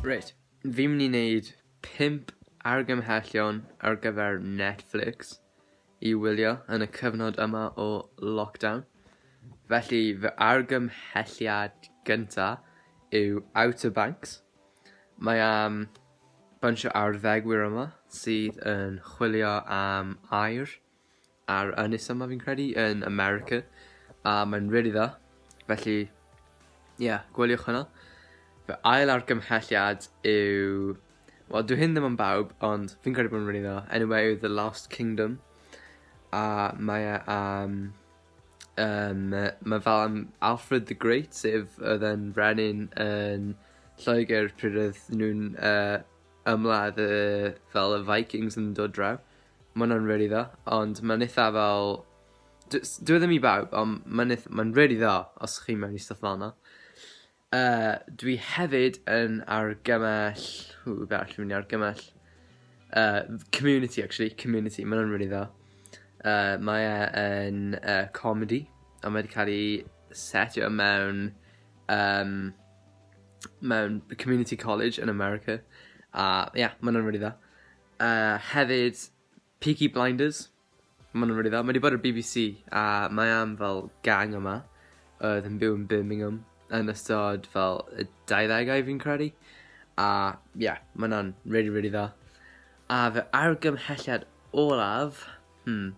Reit, fi'n mynd i wneud 5 argymhellion ar gyfer Netflix i wylio yn y cyfnod yma o lockdown. Felly fy argymhelliad gynta yw Outer Banks. Mae am bunch o arddegwyr yma sydd yn chwilio am air ar Ynys yma fi'n credu, yn America, a mae'n really dda. Felly, ie, yeah, gweliwch hwnna. Fy ail argymhelliad yw... Wel, dwi hyn ddim yn bawb, ond fi'n credu bod yn really dda. Enw e yw The Last Kingdom. A mae e am... Um, mae fel am Alfred the Great, sef oedd e'n frenin yn Lloegr pryd oedd nhw'n uh, ymladd y fel y Vikings yn dod draw. Mae hwnna'n really dda, ond mae'n eitha fel... Dwi e ddim i bawb, ond mae'n ma really dda os chi mewn i stuff fel yna. Uh, dwi hefyd yn argymell... Hw, be arall dwi'n mynd i argymell? Uh, community, actually. Community, mae'n hwnna'n really dda. Uh, mae e yn uh, comedy, a mae wedi cael ei setio mewn... Um, mewn community college yn America. A ia, yeah, maen nhw'n rili dda. Uh, hefyd, Peaky Blinders. Maen nhw'n rili dda. Mae wedi bod ar BBC a mae am fel gang yma oedd yn byw yn Birmingham yn ystod fel y 20au fi'n credu. A ia, yeah, mae hwnna'n rili, rili dda. A fy argymhelliad olaf, hmm,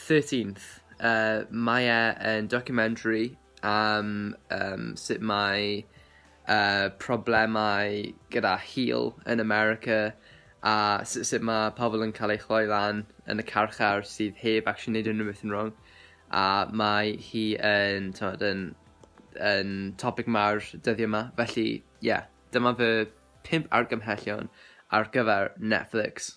13th. Uh, mae e yn documentary am um, sut mae uh, problemau gyda hil yn America a sut, sut mae pobl yn cael ei chloi lan yn y carchar sydd heb actually neud unrhyw beth yn wrong. A mae hi yn, tywed, yn, yn topic mawr dyddiau yma. Felly, ie, yeah, dyma fy pimp argymhellion ar gyfer Netflix.